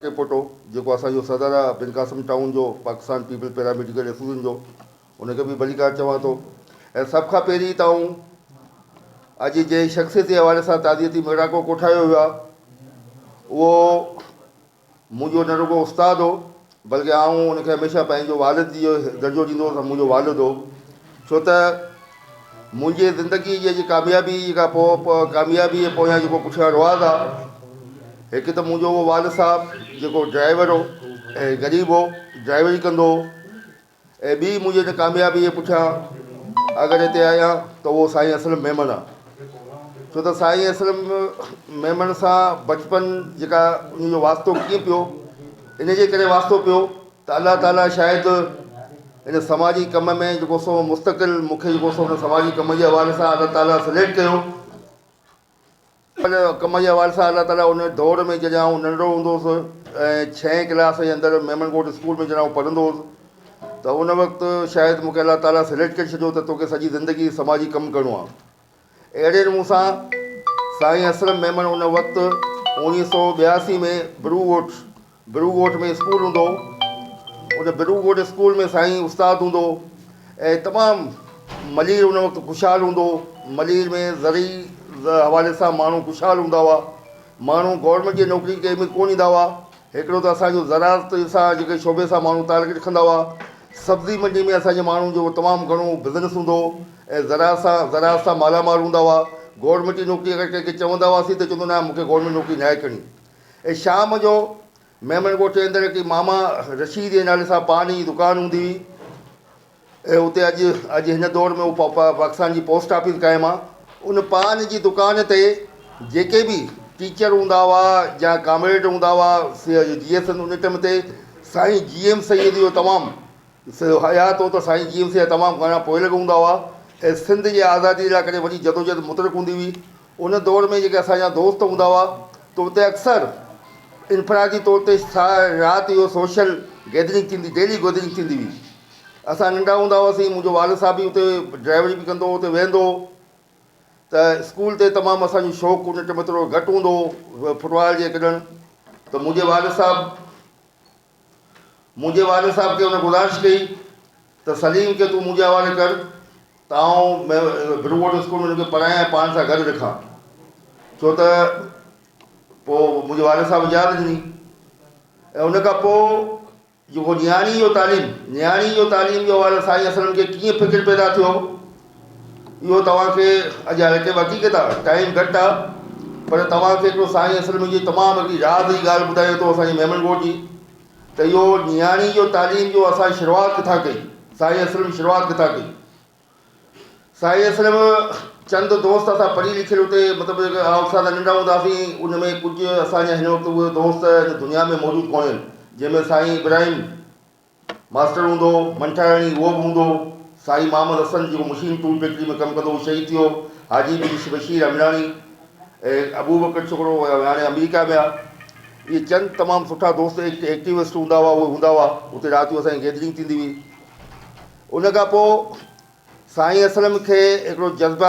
اي پوٽو جيڪو اسان جو صدر آ بن قاسم ٽائون جو Pakistan peoples para medical association جو ان کي به ڀلي ڪار چوان ٿو ۽ سڀ کان پهرين ته آئون اڄ جنهن شخصيت جي حوالي سان تعزيتي ميڙاڪو ڪوٺايو ويو آ اهو منهنجو نه رڳو استاد هو بلڪه آئون ان کي هميشه پنهنجو والد جي درجو ڏيندو هوس منهنجو والد هو ڇو ته منهنجي زندگيء جي اڄ ڪاميابيء جي ڪا پوء ڪاميابيء جي پويان جيڪو پٺيان رواز آ، هڪ ته منهنجو اهو والد صاحب جيڪو ڊرائيور هو ۽ غريب هو، ڊرائيوري ڪندو هو ۽ ٻي منهنجي ان ڪاميابيء جي پٺيان اگر هتي آهيان ته اهو سائين اسلم ميمڻ آ. ڇو ته سائين اسلم ميمڻ سان بچپن جيڪا ان جو واسطو ڪيئن پيو، ان جي ڪري واسطو پيو ته الله تعاليٰ شايد ان سماجي ڪم ۾ جيڪو سو مستقل مون کي جيڪو سو ان سماجي ڪم جي حوالي سان الله تعاليٰ سليڪٽ ڪيو. ان ڪم جي حوالي سان الله تعاليٰ ان دور ۾ جڏهن آئون ننڍڙو هوندو هوس ۽ ڇهين ڪلاس جي اندر ميمڻ ڪوٽ اسڪول ۾ جڏهن آئون پڙهندو هوس ته ان وقت شايد مون کي الله تعاليٰ سليڪٽ ڪري ڇڏيو ته توکي سڄي زندگي سماجي ڪم ڪرڻو آهي. اهڙي نمون سان سائين اسلم ميمڻ ان وقت اوڻيهه سؤ ٻياسي ۾ برو ڳوٺ برو ڳوٺ ۾ اسڪول هوندو ان برو ڳوٺ اسڪول ۾ سائين استاد هوندو ۽ تمام ملير ان وقت خوشحال هوندو ملير ۾ زرعي حوالي سان ماڻهو خوشحال هوندا هئا ماڻهو گورمينٽ جي نوڪري ڪنهن ۾ ڪونه ڏيندا هئا هڪڙو ته اسان جو زراعت سان جيڪي شعبي سان ماڻهو تعلق رکندا هئا، سبزي منڊي ۾ اسان جي ماڻهن جو تمام گهڻو بزنس هوندو هو ۽ زراعت سان زراعت سان مالا مال هوندا هئا، گورنمينٽ جي نوڪري اگر ڪنهن کي چوندا هئاسين ته چوندو نه مون کي گورنمينٽ نوڪري ناهي ڪرڻي ۽ شام جو ميمڻ ڳوٺ جي اندر هڪڙي ماما رشيد جي نالي سان پان جي دڪان هوندي هئي، اتي اڄ اڄ هن دور ۾ اهو پاڪستان جي پوسٽ آفيس قائم آهي ان پان جي دڪان تي جيڪي به ٽيچر هوندا هئا يا ڪامريڊ هوندا هئا جي ايس ان ٽيم تي سائين جي ايم سيد جو تمام حيات هو ته سائين جي ايم سيد تمام گهڻا پوئلڳ هوندا هئا ۽ سنڌ جي آزادي لاء ڪڏهن وڏي جدوجهد مترڪ هوندي هئي ان دور ۾ جيڪي اسان جا دوست هوندا هئا ته اتي اڪثر انفرادي طور تي رات جو سوشل گيدرنگ ٿيندي ڊيلي گودرنگ ٿيندي هئي اسان ننڍا هوندا هئاسين منهنجو والد صاحب به اتي ڊرائيوري به ڪندو هو اتي ويهندو هو ته اسڪول تي تمام اسانجو شوق ان ٽيم ٿورو گهٽ هوندو هو فٽبال جي ڪڏڻ ته منهنجي والد صاحب منهنجي والد صاحب کي هن گذارش ڪئي ته سليم کي تون منهنجي حوالي ڪر ته آئون بروورڊ اسڪول ۾ هن کي پڙهايان ۽ پاڻ سان گڏ رکان ڇو ته پوء منهنجي والد صاحب اجازت ڏني ۽ ان کان پوء جيڪو نياڻي جو تعليم نياڻي جو تعليم جو حوالو سائين اسلم کي ڪيئن فڪر پيدا ٿيو اهو توهان کي اڄ هتي وڌيڪ ته ٽائيم گهٽ آ پر توهان کي هڪڙو سائين اصل ۾ جي تمام هڪڙي راز جي ڳالهه ٻڌايو ٿو اسان جي ميمڻ ڳوٺ جي ته اهو نياڻي جو تعليم جو اسان شروعات ڪٿان ڪئي سائين اصل ۾ شروعات ڪٿان ڪئي سائين اصل ۾ چند دوست اسان پڙهي لکيل اتي مطلب جيڪي آئوٽ سائيڊ ننڍا هوندا هئاسين ان ۾ ڪجهه اسان جا هن وقت اهي دوست دنيا ۾ موجود ڪونهن جنهن ۾ سائين ابراهيم ماسٽر هوندو هو، منٺاياڻي اهو به هوندو هو. سائين محمد حسن جيڪو مشين ٽول فيڪٽري ۾ ڪم ڪندو هو، شهيد ٿي ويو. حاجي بن بشير امراڻي ۽ ابوبڪر ڇڪڙو ويهاڻي آمريڪا ۾ آ. اهي چند تمام سٺا دوست ايڪٽ ايڪٽيوسٽ هوندا هئا، اهي هوندا هئا. اتي رات جو اسان جي گيدرنگ ٿيندي هئي. ان کان پوء سائين اسلم کي هڪڙو جذبه.